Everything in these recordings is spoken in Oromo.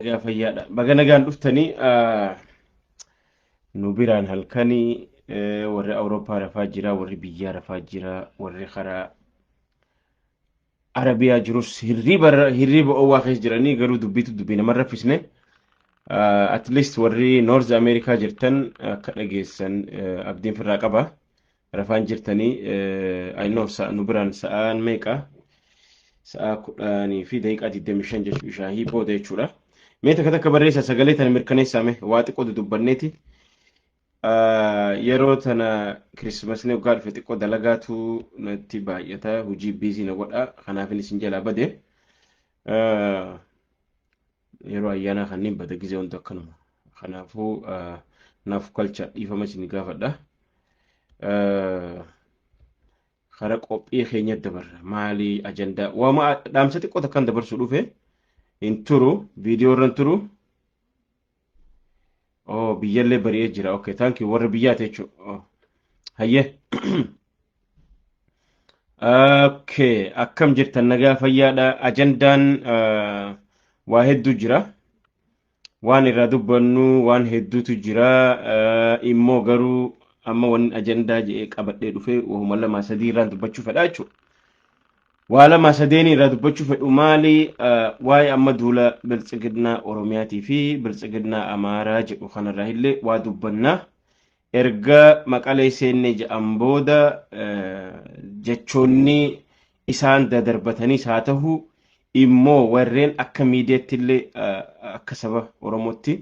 Nagaa fayyaadha. Baga nagaan dhuftanii ah, nu biraan halkanii eh, warri Awurooppaa rafaa jira, warri biyyaa rafaa jira, warri karaa Arabiyaa jirus hirriba irra- hirriba owwaa keessa jiranii garuu dubbiitu dubbii nama hin raffisne. Ah, At least warri North America jirtan akka dhageessan eh, abdiin firraa qaba. Rafaan jirtanii I know sa'a nu biraan sa'aan meeqa sa'aa kudhanii fi daqiiqaa digdamii shan jechuu ishaahii booda jechuudha. Mee takka takka barreessa sagalee tana mirkaneessaame waa xiqqoo dudubbanneeti. Yeroo tana kirismasni waggaa dhufe xiqqoo dalagaatu natti baay'ata hojii biizii na godha kanaafin isin jalaa bade. Yeroo ayyaanaa kanneen bada gizee hunda akkanuma. Kanaafuu naaf kalcha dhiifama isin gaafadha. Kara qophii keenya dabarra. Maali ajandaa? Waama dhaamsa xiqqoo takkan dabarsu dhufe hin turu. Viidiyoo irra hin turu. Oh, biyyallee bari'ee jira. Okay, thank you. Warra biyyaati jechuudha. Oh. Hayyee. Okay, akkam jirtan nagaa fayyaadha. Ajandaan ah, waa hedduu jira. Waan irraa dubbannu waan hedduutu jira. Ah, Immoo garuu amma waan ajandaa jedhee qabadhee dhufe wahuma lamaa sadii irraan dubbachuu fedha jechuudha. Waa lama sadeeni irraa dubbachuu fedhu maali ah, waa'ee amma duula biltsiginnaa Oromiyaatii fi biltsiginnaa Amaaraa jedhu kanarraa illee waa dubbanna. Erga maqalee seennee ja'an booda eh, jechoonni isaan dadarbatanis haa ta'u immoo warreen akka miidiyaatti illee ah, akka saba Oromootti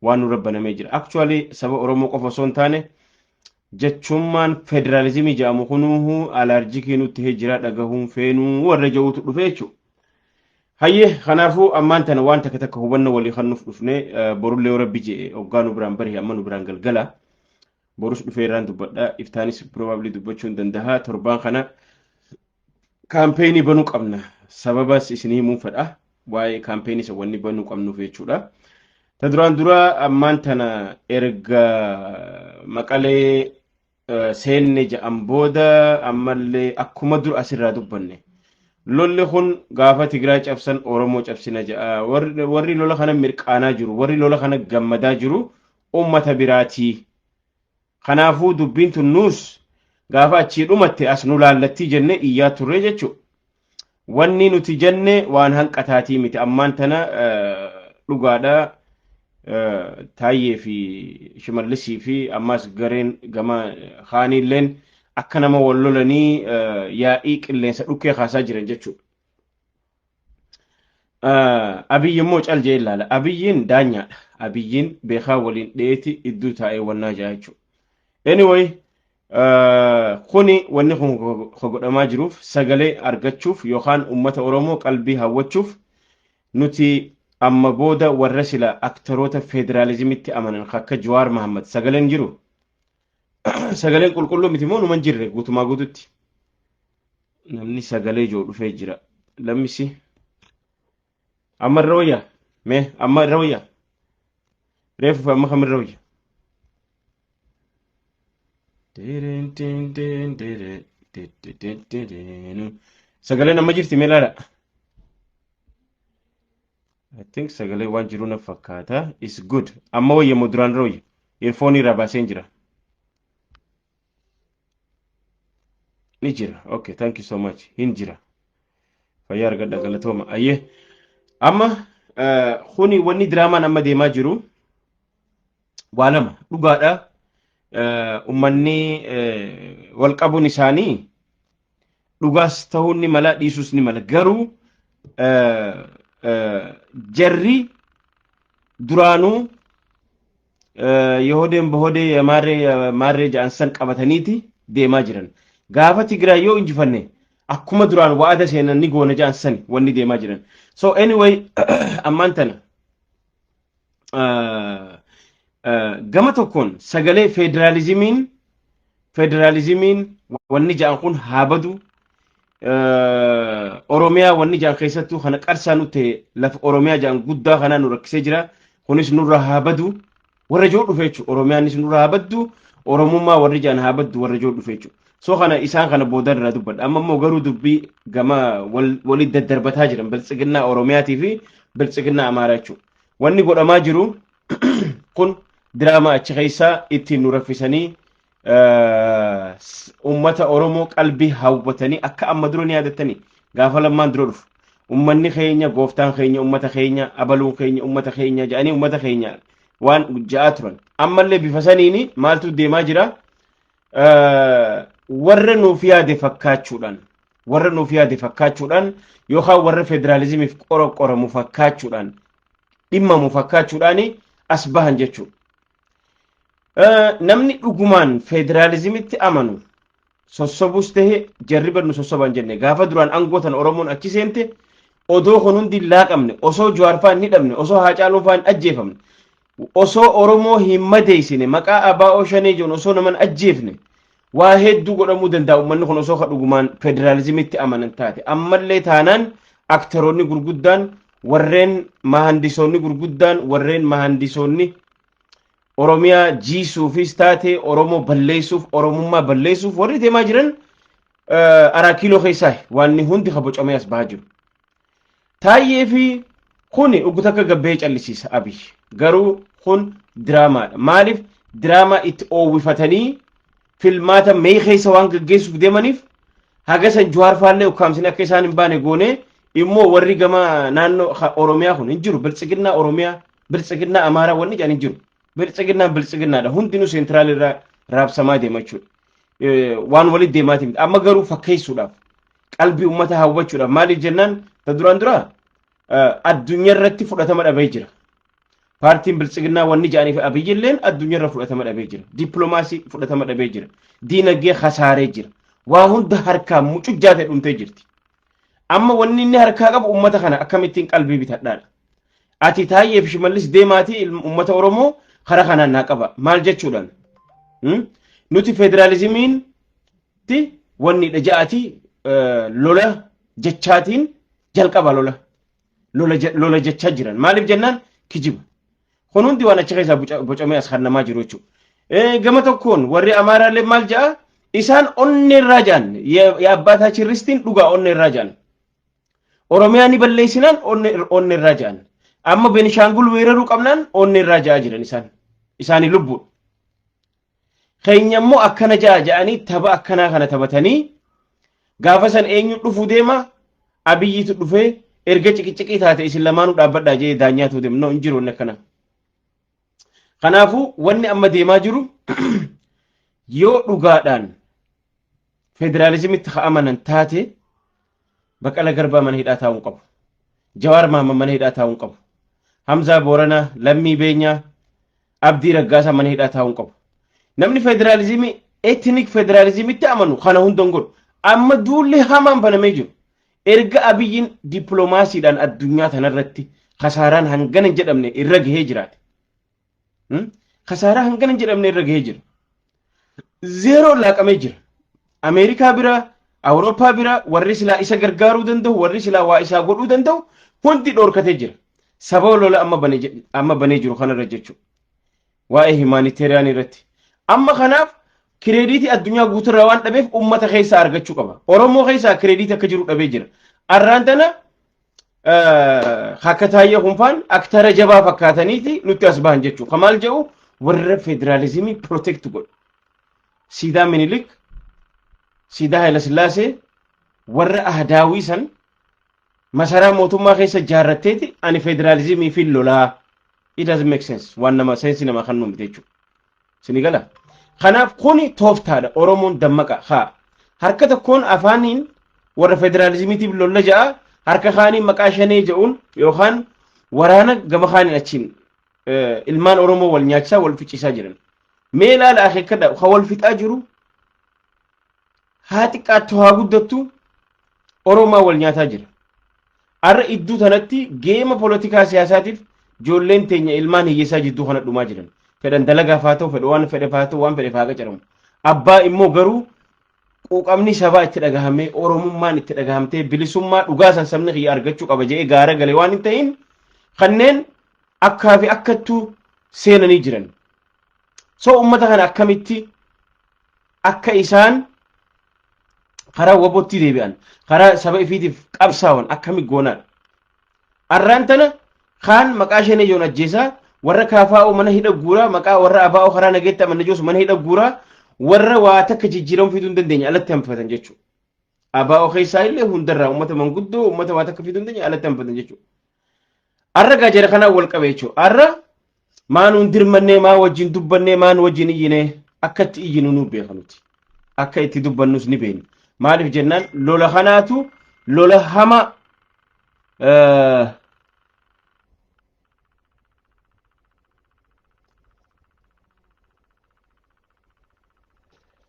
waan nurra banamee jira. Actually saba Oromoo qofa osoo hin taane Jechummaan federaalizimii jedhamu kunuuhu alaarjikii nu tahee jira dhagahuun feenuu warra ja'uutu dhufe jechuudha. Hayyee kanaafuu ammaan tana waan takka takka hubannoo walii kennuuf dhufne borullee yoo rabbi je'e oggaa nu biraan barihe amma nu biraan galgala. Borus dhufee irraan dubbadha iftaanis probably dubbachuu hin dandaha torbaan kana Kaampeenii banuu qabna. Sababas isin himuun fedha. Waa'ee kaampeenii isa wanni banuu qabnuuf jechuudha. Ta duraan dura ammaan tana erga maqalee eh, seenne ja'an booda ammallee akkuma dur asirraa dubbanne. Lolli kun gaafa Tigraay cabsan Oromoo cabsina ja'a. Warri warri lola kana mirqaanaa jiru, warri lola kana gammadaa jiru uummata biraatii. Kanaafuu dubbiin tun nuus gaafa achii dhumatte as nu laallattii jenne iyyaa turre jechuudha. Wanni nuti jenne waan hanqataatii miti ammaan tana dhugaadha taayyee fi shimallisii fi ammaas gareen gama kaaniilleen akka nama wal lolanii yaa'ii qilleensa dhukkee kaasaa jiran jechuudha. Ah, Abiyyi immoo cal jee ilaala. Abiyyiin daanyaadha. Abiyyiin beekaa waliin dheeti idduu taa'ee wannaa jaa jechuudha. Anyway, ah, kuni wanni kun ka godhamaa jiruuf sagalee argachuuf yookaan uummata Oromoo qalbii hawwachuuf nuti amma booda warra sila aktaroota federaalizimitti amanan ka akka Jawaar Mahammad sagaleen jiru Sagaleen qulqulluu miti moo numan jirre guutumaa guututti. Namni sagalee ijoo dhufee jira. Lammisi. Amma irra wayya. Mee amma irra wayya. Reefu amma kam irra wayya. Sagaleen amma jirti mee laala. I think sagalee waan jiru na fakkaata. Is good. Amma wayya moo duraan dura wayya? Earphone irraa baaseen jira. Ni jira. Okay, thank you so much. Hin jira. Fayyaa argadha galatooma. Ayyee. Amma eh, kuni wanni diraamaan amma deemaa jiru waa lama dhugaadha ummanni wal qabuun isaanii dhugaas ta'uun ni mala dhiisuus ni mala garuu jarri duraanuu Yihudeen Bohodee Maarree Maarree ja'an san qabataniiti deemaa jiran. Gaafa Tigraay yoo injifanne akkuma duraan wa'ada seenan ni goona ja'an sani wanni deemaa jiran. So anyway ammaan tana gama tokkoon sagalee federaalizimiin federaalizimiin wanni ja'an kun haa badu oromiyaa wanni ja'an keessattuu kana qarsaa nu ta'e lafa oromiyaa ja'an guddaa kanaa nu rakkisee jira kunis nurra haa badu warra ijoo dhufe jechuudha oromiyaanis nurra haa baddu oromummaa warri ja'an haa baddu warra ijoo dhufe jechuudha So kana isaan kana boodan irraa dubbadha. Amma immoo garuu dubbii gama wal- walitti daddarbataa jiran biltsiginnaa Oromiyaatii fi biltsiginnaa Amaaraa jechuudha. Wanni godhamaa jiru kun diraamaa achi keessaa ittiin nu raffisanii eh, s- uummata Oromoo qalbii hawwatanii akka amma dura ni yaadattanii gaafa lammaan dura dhufu. Uummanni keenya, gooftaan keenya, uummata keenya, abaluun keenya, uummata keenya jedhanii uummata keenya waan ja'aa turan. Ammallee bifa saniini maaltu deemaa jira? warra nuuf yaade fakkaachuudhaan warra nuuf yaade fakkaachuudhaan yookaan warra federaalizimiif qoramu fakkaachuudhaan dhimmamu fakkaachuudhaan as bahan jechuudha. Namni dhugumaan federaalizimitti amanu sossobus ta'e jarri barnu sossoban jenne gaafa duraan aangoo tan Oromoon achi seente odoo kun hundi hin laaqamne osoo Jawaarfaa hin hidhamne osoo Haacaaluunfaa hin ajjeefamne Osoo Oromoo hin madeeysine, maqaa ABO Shanee je'uun osoo nama hin ajjeefne, waa hedduu godhamuu danda'a ummanni kun osoo ka dhugumaan federaalizimitti amanan taate. Ammallee taanaan aktaroonni gurguddaan, warreen mahaandisoonni gurguddaan, warreen mahaandisoonni Oromiyaa jiisuufis taate, Oromoo balleessuuf, Oromummaa balleessuuf warri deemaa jiran Araa Kiiloo keessaahi waanni hundi ka bocamee as bahaa jiru. Taayyee fi kuni oggu takka gabbee callisiisa Abiy. Garuu kun diraamaadha. Maaliif diraamaa itti oowwifatanii filmaata mee keessa waan gaggeessuuf deemaniif haga san Juhaar faallee ukkaamsine akka isaan hin baane goone immoo warri gama naannoo ha- Oromiyaa kun hin jiru. Biltsiginnaa Oromiyaa, Biltsiginnaa Amaaraa wanni jedhan hin jiru. Biltsiginnaan Biltsiginnaadha. Hundinuu seentiraal irraa raabsamaa deema jechuudha. Eh, Waan walitti deemaatii miti. Amma garuu fakkeessuudhaaf. qalbii ummata hawwachuudhaaf maaliif jennaan ta duraan dura addunyaa irratti fudhatama dhabee jira. Paartiin biltsiginnaa wanni jedhanii fi abiyyi illeen addunyaa irra fudhatama dhabee jira. Dippiloomaasii fudhatama dhabee jira. Diinagdee kasaaree jira. Waa hunda harkaan mucuchaa ta'e dhumtee jirti. Amma wanni inni harkaa qabu ummata kana akkamittiin qalbii bitadhaadha. Ati taayyeef shimallis deemaatii ummata Oromoo karaa kanaan naa qaba. Maal jechuudhaan? Nuti federaalizimiin ti wanni dha ja'ati lola jechaatiin jalqaba lola lola je- lola jechaa jiran maaliif jennaan kijiba kun hundi waan achi keessaa boca- bocamee as hannamaa jiru jechuudha. Eh, Gama tokkoon warri Amaaraallee maal ja'a isaan onnee irraa ja'an ya- ya abbaa taachiristiin dhugaa onnee irraa ja'an Oromiyaa ni balleessinaan onnee onnee irraa ja'an amma Benishaangul weeraruu qabnaan onnee irraa ja'a jiran isaan isaanii lubbuudha. keenya immoo akkana ja'a ja'anii tapha akkanaa kana taphatanii gaafa san eenyu dhufu deema abiyyiitu dhufee erga ciqiciqii taate isin lamaanuu dhaabbadhaa jee daanyaatu deema no hin jiru wanni akkana. Kanaafuu wanni amma deemaa jiru yoo dhugaadhaan federaalizimitti ka'amanan taate baqala garbaa mana hidhaa taa'uu qabu. Jawaar Maamman mana hidhaa taa'uu qabu. Hamzaa Booranaa, Lammii Beenyaa, Abdii Raggaasaa mana hidhaa taa'uu hin qabu. Namni federaalizimii etnik federaalizimitti amanu kana hunda hin godhu. Amma duulli hamaan banamee jiru. Erga Abiyyiin dippiloomaasiidhaan addunyaa tanarratti kasaaraan hangana hin jedhamne irra gahee jiraate. Hmm? Kasaaraa hangana hin jedhamne irra gahee jira. zeeroon laaqamee jira. Ameerikaa bira, Awurooppaa bira warri silaa isa gargaaruu danda'u, warri silaa waa isaa godhuu danda'u hundi dhorkatee jira. Sababa lola amma bane je- amma banee jiru kanarra jechuudha. Waa'ee himaaniteeriyaan irratti. Amma kanaaf kireediitii addunyaa guuturraa waan dhabeef uummata keessaa argachuu qaba. Oromoo keessaa kireediitii akka jiru dhabee jira. Arraan tana Akka taayyee kunfaan aktara jabaa fakkaataniiti nutti as bahan jechuudha. Kan maal jedhu warra federaalizimii protect godhu. Siidaa Minilik, Siidaa Hayilasillaasee, warra ahdaawii san masaraa mootummaa keessa ijaarratteeti ani federaalizimii fi lolaa. It doesn't make sense. Waan nama seensi nama kan nuumte jechuudha. Sini gala? Kanaaf kuni tooftaadha Oromoon dammaqa haa harka tokkoon afaaniin warra federaalizimiitiif lolla ja'a harka kaaniin maqaa shanee ja'uun yookaan waraana gama kaaniin achiin ilmaan Oromoo wal nyaachisaa wal ficisaa jiran. Mee ilaala akeekkadha kan wal fixaa jiru haa xiqqaattu haa guddattu Oromaa wal nyaataa jira. Har'a iddoo tanatti geema poolitikaa siyaasaatiif ijoolleen teenya ilmaan hiyyeessaa jidduu kana dhumaa jiran. Fedhan dalagaaf haa ta'u, fedha waan fedheef haa ta'u, waan fedheef haa qacaramu. Abbaa immoo garuu quuqamni sabaa itti dhagahamee, Oromummaan itti dhagahamtee, bilisummaa dhugaa san sabni kiyya argachuu qaba jedhee gaara galee waan hin ta'in kanneen akkaa fi akkattuu seenanii jiran. so ummata kana akkamitti akka isaan karaa wabootti deebi'an karaa saba ifiitiif qabsaawan akkami goonaadha arraan tana kaan maqaa shanee joon ajjeesaa warra kaafaa'oo mana hidha guuraa maqaa warra abaa'oo karaa nageetti amanna joosu mana hidha guuraa warra waa takka jijjiiramu fiduu hin dandeenye alatti hanfatan jechuudha. Abaa'oo keessaa illee hundarraa uummata manguddoo uummata waa takka fiduu hin dandeenye alatti hanbatan jechuudha. Arra gaa jara kanaan wal qabee jechuudha. Arra maa nuun dirmannee maa wajjin dubbannee maa nu wajjin iyyinee akka itti iyyinu nu beeka nuti. Akka itti dubbannus ni beekna. Maaliif jennaan lola kanaatu lola hamaa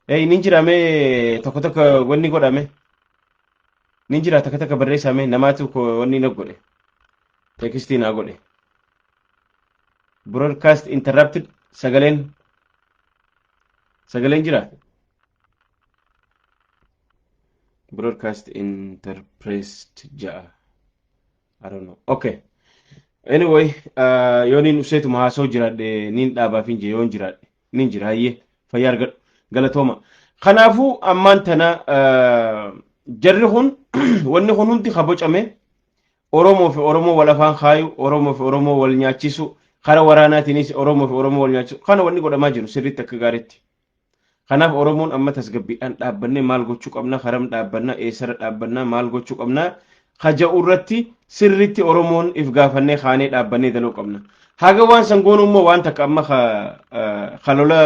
Ee ni jira mee tokko tokko wanni godhame ni jira takka takka barreessame namaatu ko wanni na godhe tekstii naa godhe broadcast interrupted sagaleen sagaleen jira broadcast interpressed ja'a I don't know. Okay. Anyway, uh, yoo niin dhufseetuma haasoo jiraadhe niin dhaabaaf hin jee yoon jiraadhe niin jira hayyee fayyaa argadhu galatooma. Kanaafuu ammaan tana uh, jarri kun wanni kun hundi ka bocame Oromoo fi Oromoo wal afaan kaayu Oromoo fi Oromoo wal nyaachisu karaa waraanaatiinis Oromoo fi Oromoo wal nyaachisu kana wanni godhamaa jiru sirriitti akka gaariitti Kanaaf Oromoon amma tasgabbiidhaan dhaabbannee maal gochuu qabna, karam dhaabbanna, eessarra dhaabbanna, maal gochuu qabna kaja'u irratti sirriitti Oromoon if gaafannee kaanee dhaabbannee daloo qabna. Haga waan san goonu immoo waan takka amma kalola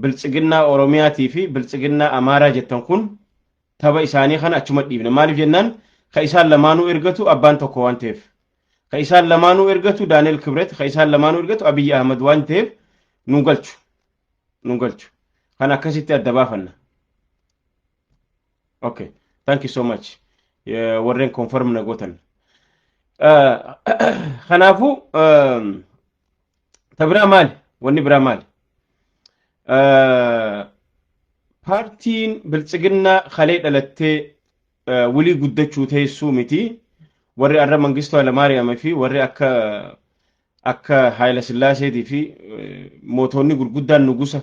biltsiginnaa Oromiyaatii fi biltsiginnaa Amaaraa jettan kun taba isaanii kana achuma dhiibna. Maaliif jennaan ka isaan lamaanuu ergatu abbaan tokko waan ta'eef. Ka isaan lamaanuu ergatu Daani'el Kibret, ka isaan lamaanuu ergatu Abiyyi Ahmad waan ta'eef nu galchu. nu galchu kan akkasitti adda baafanna okay thank you so much Eh, warreen confirm na gootan Eh, kanaafuu eh, ta biraa maali wanni biraa maali Eh, paartiin biltsiginnaa kalee dhalattee eh, wilii guddachuu teessuu miti warri arra mangistuu alamaariyaama fi warri akka Akka Haayila Sillaaseetii fi mootoonni gurguddaan nugusa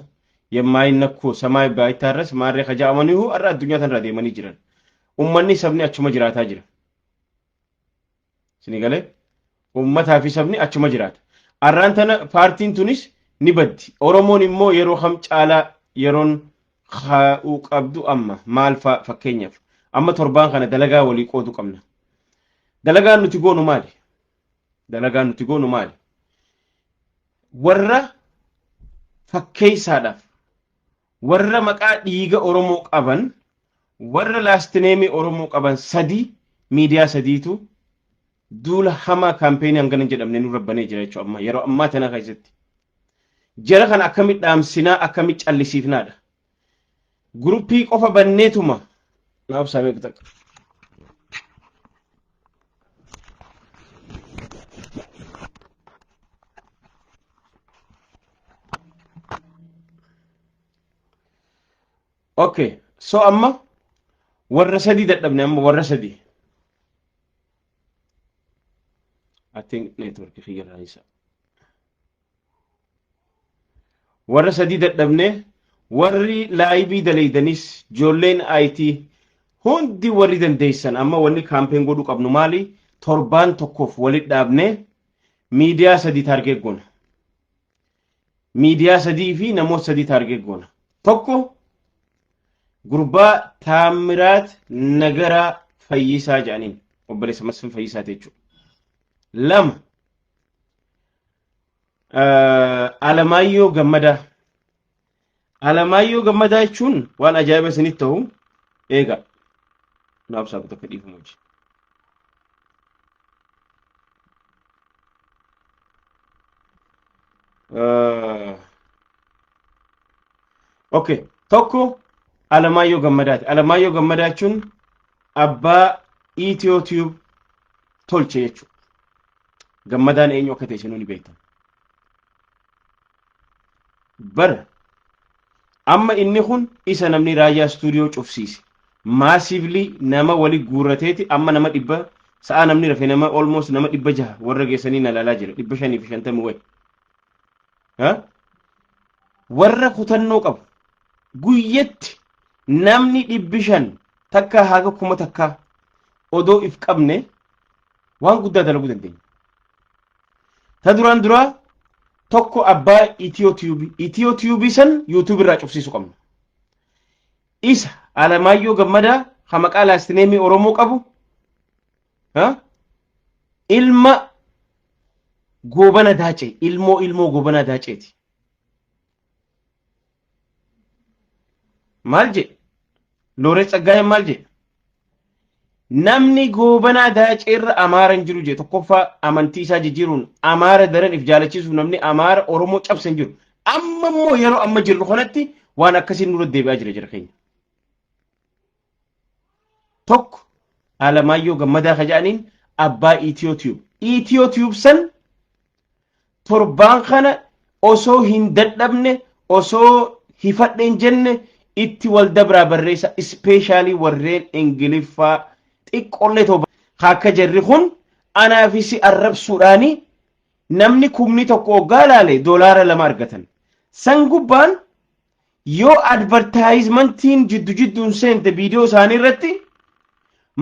yemmaayin nakkoo samaay baayittaa irras maarree ka ja'amaniihu har'a addunyaa tanarra deemanii jiran. Ummanni sabni achuma jiraataa jira. Isinii galee? Ummataa fi sabni achuma jiraata. Har'aan tana paartiin tunis ni baddi. Oromoon immoo yeroo kam caalaa yeroon kaa'uu qabdu amma maal fa'a fakkeenyaaf amma torbaan kana dalagaa walii qoodu qabna. Dalagaan nuti goonu maali? dalagaan nuti goonu maali? Warra fakkeessaadhaaf, warra maqaa dhiiga Oromoo qaban, warra laastineemii Oromoo qaban sadii miidiyaa sadiitu duula hamaa kaampeenii hangana hin jedhamne nurra banee jira jechuudha amma yeroo ammaa tana keessatti. Jara kana akkamitti dhaamsinaa akkamitti callisiifnaadha. Guruppii qofa banneetuma. Naa obsaa meeqa takka. Okay. So amma warra sadii dadhabne amma warra sadii. I think network kiyya irraa isa. warra sadii dadhabne warri laayibii dalaydanis joolleen IT hundi warri dandeessan amma wanni kaampeen godhuu qabnu maali torbaan tokkoof walit dhaabne miidiyaa sadii taargeet goona. Miidiyaa sadii fi namoota sadii taargeet goona. Tokko gurbaa Taamiraat Nagaraa Fayyisaa jedhaniin obboleessa Masfin Fayyisaa jechuudha. Lama Alamaayyoo Gammadaa. Alamaayyoo Gammadaa jechuun waan ajaa'iba isinitti ta'u eegaa. Naaf saaqu tokko dhiifama hojii. Okay. Tokko Alamaayyoo Gammadaati. Alamaayyoo Gammadaa jechuun abbaa Itiyoo Tiyuub tolche jechuudha. gammadaan eenyu akka ta'e isinuu ni beektan. Bar amma inni kun isa namni raayyaa istuudiyoo cufsiise maasiivlii nama wali guurrateeti amma nama dhibba sa'a namni rafe nama olmoos nama dhibba jaha warra geessanii na laalaa jira dhibba shanii fi shantamii wayi. Warra kutannoo qabu guyyatti namni dhibbi shan takkaa haga kuma takkaa odoo if qabne waan guddaa dalaguu dandeenya. Ta duraan duraa tokko abbaa Itiyoo Tiyuubii Itiyoo Tiyuubii san Yuutuubii irraa cufsiisuu qabna. Isa Alamaayyoo Gammadaa ha maqaa laastineemii Oromoo qabu ha? ilma goobana daacee ilmoo ilmoo goobana daaceeti. Maal jedhe? Looree Tsaggaayeen maal jedhe? Namni goobanaa daaceerra Amaara hin jiru jedhe tokkoffaa amantii isaa jijjiiruun Amaara daran if jaalachiisuuf namni Amaara Oromoo cabse hin jiru. Amma immoo yeroo amma jirru kanatti waan akkasiin nurra deebi'aa jira jira keenya. tokko Alamaayyoo Gammadaa ka jedhaniin abbaa Itiyoo Tiyuub. Itiyoo Tiyuub san torbaan kana osoo hin dadhabne osoo hifadhe hin jenne itti wal dabraa barreessa ispeeshaalii warreen ingiliffaa xiqqollee toba akka jarri kun anaa fi si arrabsuudhaani namni kumni tokko oggaa laale doolaara lama argatan san gubbaan yoo advertisementiin jiddu jidduun seente viidiyoo isaanii irratti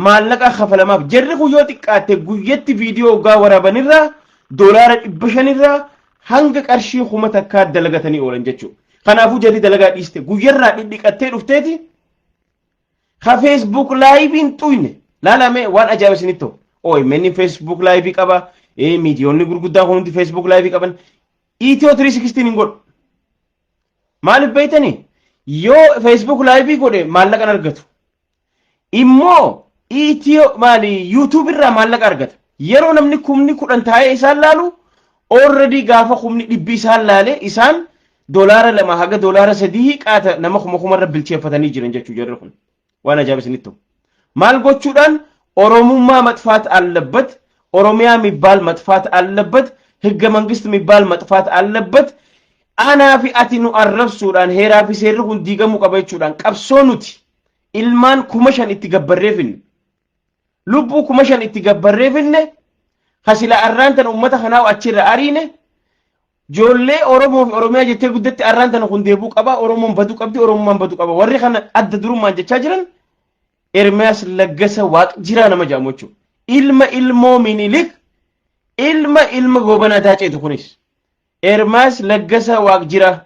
maallaqa kafalamaaf jarri kun yoo xiqqaatte guyyatti viidiyoo hoggaa waraabanirraa doolaara dhibba shanirraa hanga qarshii kuma takkaa dalagatanii oolan jechuudha. Kanaafuu jarri dalagaa dhiiste guyyarraa dhidhiqattee dhufteeti ka feesbuuk laayiviin xuyne laalamee waan ajaa'iba isinitti ta'u. OMN feesbuuk laayivii qaba miidiyoonni gurguddaan kun hundi feesbuuk laayivii qaban. Itiyoo 360 hin godhu. Maaliif beektanii? Yoo Facebook laayivii godhe maallaqa argatu. Immoo Itiyoo maali YouTube irraa maallaqa argata. Yeroo namni kumni kudhan taa'ee isaan laalu already gaafa kumni dhibbi isaan laale isaan dolaara lama haga dolaara sadii qaata nama kuma kumarra bilcheeffatanii jiran jechuu jarri kun. waan ajaa'iba isinitti ta'u. Maal gochuudhaan Oromummaa maxfaat allabbat, Oromiyaa mibbaal maxfaat allabbat, higga mangist mibbaal maxfaat allabbat, anaa fi ati nu arrabsuudhaan heeraa fi seerri kun diigamuu qaba jechuudhaan qabsoo nuti ilmaan kuma shan itti gabbarreefin Lubbuu kuma shan itti gabbarree finne ka sila arraan tana uummata kanaa achirra ariine joollee Oromoo fi Oromiyaa jettee guddatti arraan tana kun deebuu qaba Oromoon baduu qabdi Oromummaan baduu qaba warri kana adda durummaan jechaa jiran Ermiyaas Laggasa Waaq jiraa nama jedhamu jechuudha. Ilma ilmoo Minilik ilma ilma goobanaa daaceetu kunis. Ermaas Laggasa Waaq jiraa.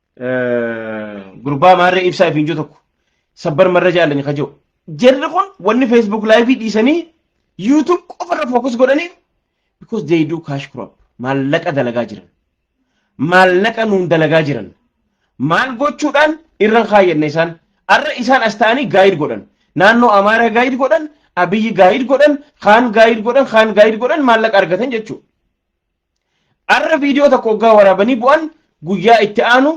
gurbaa maarree ibsaa ifiin jiru tokko sabbar marra jaallanyi ka jiru. Jarri kun wanni Facebook live dhiisanii YouTube qofa irra focus godhanii because they do cash crop maallaqa dalagaa jiran. Maallaqa nuun dalagaa jiran. Maal gochuudhaan irra kaayyanne isaan arra isaan as ta'anii gaayid godhan. Naannoo Amaaraa gaayid godhan, Abiyyi gaayid godhan, kaan gaayid godhan, kaan gaayid godhan maallaqa argatan jechuudha. Arra viidiyoo tokko oggaa waraabanii bu'an guyyaa itti aanu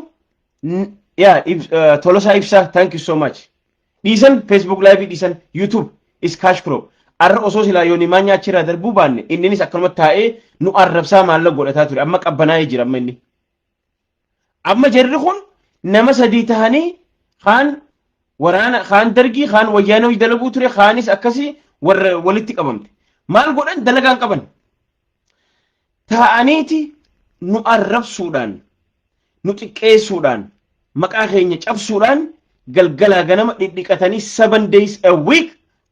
n- yaa Ibs- eh, Tolosaa Ibsaa thank you so much. Dhiisan Facebook live dhiisan YouTube is cash crop. Arra osoo silaa yoonii maanyaa achirraa darbuu baanne inninis akkanuma taa'ee nu arrabsaa maalla godhataa ture amma qabbanaa'ee jira amma inni. Amma jarri kun nama sadii tahanii kaan waraana kaan dargii kaan wayyaana hojii dalaguu ture kaanis akkasii warra walitti qabamte. Maal godhan dalagaan qaban. Taa'aniiti nu arrabsuudhaan nu xiqqeessuudhaan maqaa keenya cabsuudhaan galgalaa ganama dhidhiqatanii seven days a week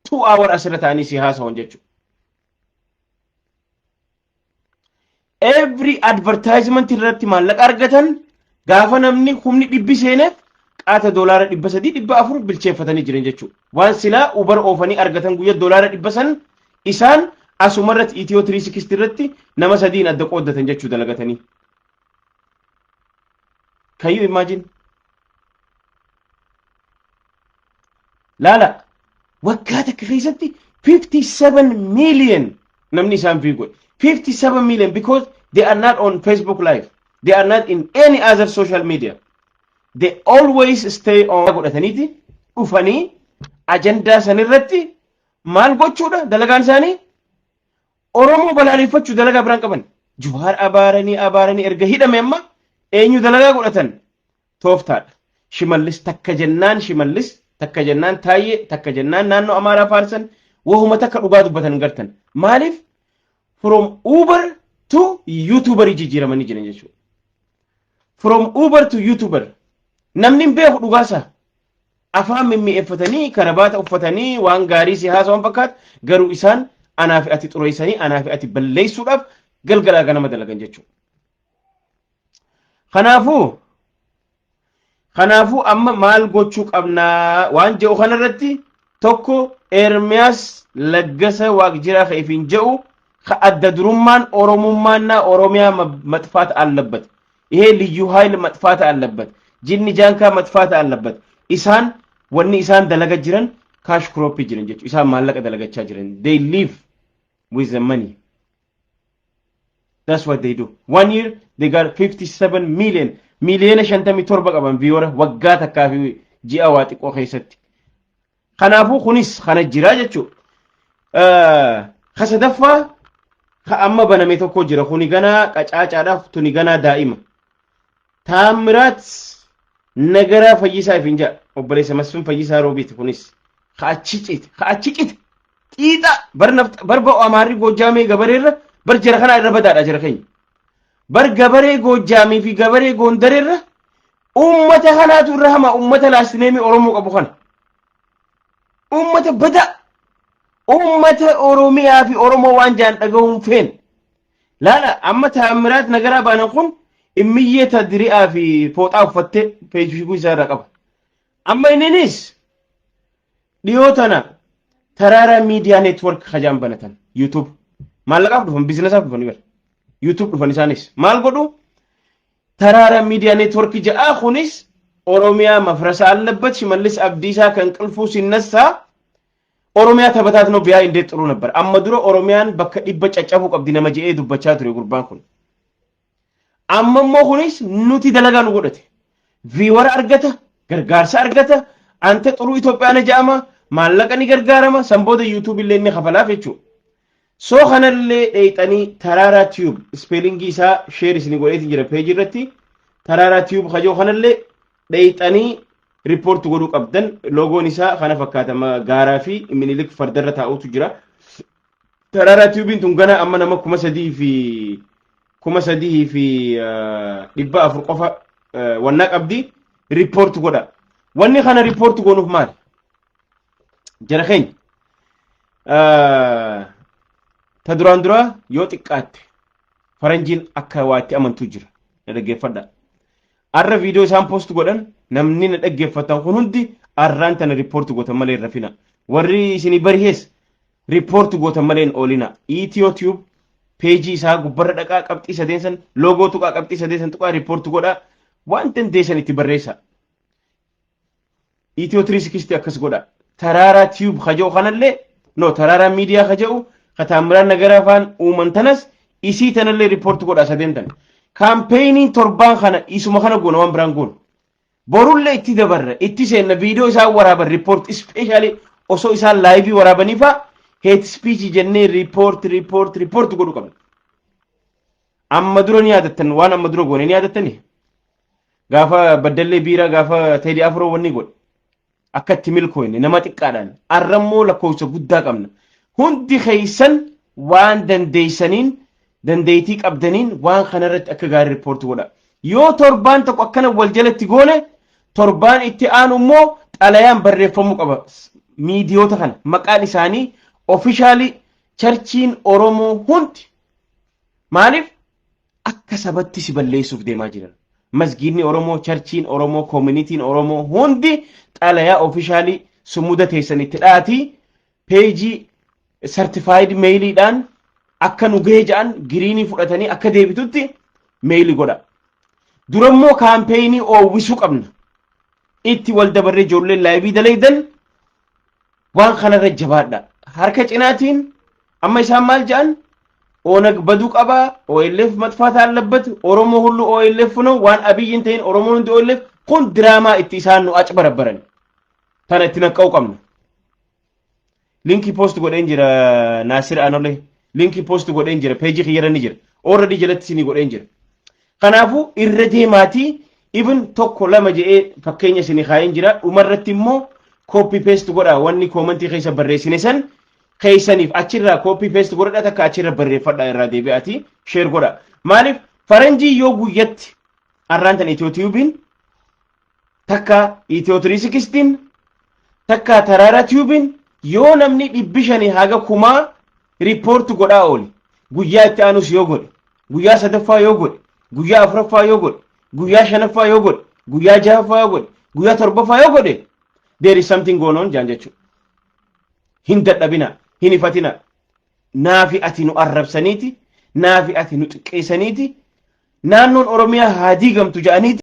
two hour asirra taa'anii si haasawan jechuudha. every advertisement irratti maallaqa argatan gaafa namni humni dhibbi seeneef qaata doolaara dhibba sadii dhibba afur bilcheeffatanii jiran jechuudha. Waan silaa ubar oofanii argatan guyya doolaara dhibba san isaan asuma irratti itiyoo tirii sikisti irratti nama sadiin adda qooddatan jechuu dalagatanii. Kayyuu imagine. Laala waggaa takka keessatti 57 million namni isaan view godhe. 57 million because they are not on Facebook live. They are not in any other social media. They always stay on godhataniiti dhufanii ajandaa sanirratti maal gochuudha dalagaan isaanii Oromoo balaaleffachuu dalagaa biraan qaban. Juhaar abaaranii abaaranii erga hidhame amma eenyu dalagaa godhatan tooftaadha. Shimallis takka jennaan Shimallis takka jennaan Taayyee takka jennaan naannoo Amaaraa faarsan wahuma takka dhugaa dubbatan gartan. Maaliif from Uber to YouTuber jijjiiramanii jiran jechuudha. From Uber to YouTuber namni hin beeku dhugaasaa afaan mimmi'eeffatanii karabaata uffatanii waan gaarii si haasawan fakkaatu garuu isaan anaa fi ati xureessanii anaa fi ati balleessuudhaaf galgalaa ganama dalagan jechuudha. Kanaafuu kanaafuu amma maal gochuu qabnaa waan jedhu kanarratti tokko Ermiyaas Laggasa Waaqjiraa ka ifiin jedhu ka adda durummaan Oromummaannaa Oromiyaa ma- maxfaata allabbate. Ihee liyyuu haayil maxfaata allabbate. Jinni jaankaa maxfaata allabbate. Isaan wanni isaan dalaga jiran kaash kirooppii jiran jechuudha. Isaan maallaqa dalagachaa jiran. They live with the money. That's what they do. One year they got 57 million. Miliyoona 57 qaban viyoora waggaa takkaa fi ji'a waa xiqqoo keessatti. Kanaafuu kunis kana jira jechuudha. Ka sadaffaa ka amma baname tokko jira. Kuni ganaa qacaacaadhaaf tuni ganaa daa'ima. Taammiraat Nagaraa Fayyisaa ifiin ja'a. Obboleessa Masfin Fayyisaa Roobiiti kunis. Ka achi cite, ka achi cite. Xiixa bar nafxa bar ba'u amaarri goojjaamee gabareerra bar jara kanaa irra badaadha jara keenya. Bar gabaree goojjaamii fi gabaree goondareerra uummata kanaatu irra hama uummata laastineemii Oromoo qabu kana. Uummata badaa uummata Oromiyaa fi Oromoo waan jaan dhagahuun feen Laala amma Taammiraat Nagaraa baanan kun immiyyee ta diri'aa fi fooxaa uffattee feesbuukii isaa irraa qaba. Amma inninis dhiyoo tana taraaraa miidiyaa neetwork hajaan banatan yuutuub maallaqaaf dhufan biizinasaaf dhufan ibara yuutuub dhufan isaanis maal godhu taraaraa miidiyaa neetwork ja'aa kunis Oromiyaa mafrasa allabbat shimallis abdiisaa kan qilfuu sinnassaa Oromiyaa tabataatinoo biyaa indee xuruu nabbar. Amma dura Oromiyaan bakka dhibba caccabuu qabdi nama je'ee dubbachaa ture gurbaan kun. Amma immoo kunis nuti dalagaa nu godhate. Viiwara argata, gargaarsa argata, anta xuruu Itoophiyaana ja'ama, maallaqa ni gargaarama, san booda yuutuubii illee ni kafalaaf jechuudha. So kanallee dheeyxanii Taraaraa Tube ispeelingii isaa sheer isin godheetiin jira peejii irratti Taraaraa Tube kajoo kanallee dheeyxanii riippoorti godhuu qabdan loogoon isaa kana fakkaatama gaaraa fi minilik fardarra taa'utu jira. Taraaraa Tube'n tun gana amma nama kuma sadii fi kuma sadii fi dhibba afur qofa wannaa qabdi riippoorti godha. Wanni kana riippoorti goonuuf maali? Jara keenya. Ta duraan duraa yoo xiqqaatte faranjiin akka waa itti amantuu jira. Na dhaggeeffadha. Arra viidiyoo isaan poost godhan namni na dhaggeeffatan kun hundi arraan tana riippoorti gootan malee hin rafina. Warri isinii barihees riippoorti gootan malee hin oolina. Itiyoo tiyuub peejii isaa gubbarra dhaqaa qabxii sadeen san loogoo tuqaa qabxii sadeen san tuqaa riippoorti godhaa waan dandeessan itti barreessa. Itiyoo 360 akkas godha. Taraaraa tiyuub kaja'u kanallee no taraaraa miidiyaa kaja'u ka taammiraan nagaraa faan uuman tanas isii tanallee riippoorti godha sadeen tan. Kaampeyiniin torbaan kana isuma kana goona waan biraan goona. Borullee itti dabarra itti seenna viidiyoo isaan waraaban riippoorti ispeeshaalii osoo isaan laayivii waraabanii faa heet ispiichii jennee riippoorti riippoorti riippoorti godhu qabna. Amma dura ni yaadattan waan amma dura goone ni yaadattanii? Gaafa baddallee biiraa gaafa teedii afuroo wanni godhe. Akka itti milkooyne nama xiqqaadhaan. Arra immoo lakkoofsa guddaa qabna. Hundi keessan waan dandeessaniin dandeettii qabdaniin waan kanarratti akka gaarii riippoortii godha. Yoo torbaan tokko akkana wal jalatti goone torbaan itti aanu immoo xalayaan barreeffamuu qaba. Miidiyoota kana maqaan isaanii ofishaalii charchiin Oromoo hundi maaliif Akka sabatti si balleessuuf deemaa jiran. Masgiidni Oromoo, charchiin Oromoo, koominitiin Oromoo hundi xalayaa ofishaalii sumuda teessan itti dhaatii peejii sartifaayid meeyiliidhaan akka nu gahee ja'an giriinii fudhatanii akka deebitutti meeyili godha. Durammoo kaampeenii oowwisuu qabna. Itti wal dabarree ijoolleen laayivii dalaydan waan kanarra jabaadha. Harka cinaatiin Amma isaan maal jedhan? Onag baduu qaba, OLF matfaata allabbat, Oromoo hullu OLF no waan Abiyyi hin ta'in Oromoon hundi OLF kun diraamaa itti isaan nu aci barabbaran. Tana itti naqqa'u qabna. Linkii post godheen jira Naasir Anolee. Linkii post godheen jira peejii kiyyarra ni jira. Already jalatti isinii godheen jira. Kanaafuu irra deemaatii ibn tokko lama jedhee fakkeenya isinii kaa'een jira. Dhumarratti immoo copy paste godhaa wanni koomantii keessa barreessine san keessaniif achirraa copy paste godhadha takka achirra barreeffadha irraa deebi'aati share godha. Maaliif faranjii yoo guyyatti arraan tan itiyoo tiyuubiin takka itiyoo tiriisikistiin takka taraara tiyuubiin yoo namni dhibbi shanii haga kumaa riippoorti godhaa oole guyyaa itti aanus yoo godhe guyyaa sadaffaa yoo godhe guyyaa afuraffaa yoo godhe guyyaa shanaffaa yoo godhe guyyaa jahaffaa yoo godhe guyyaa torbaffaa yoo godhe there is something going on jaan jechuudha. hin dadhabina hin hifatina naafi ati nu arrabsaniiti naafi ati nu xiqqeessaniiti naannoon oromiyaa haa diigamtu ja'aniiti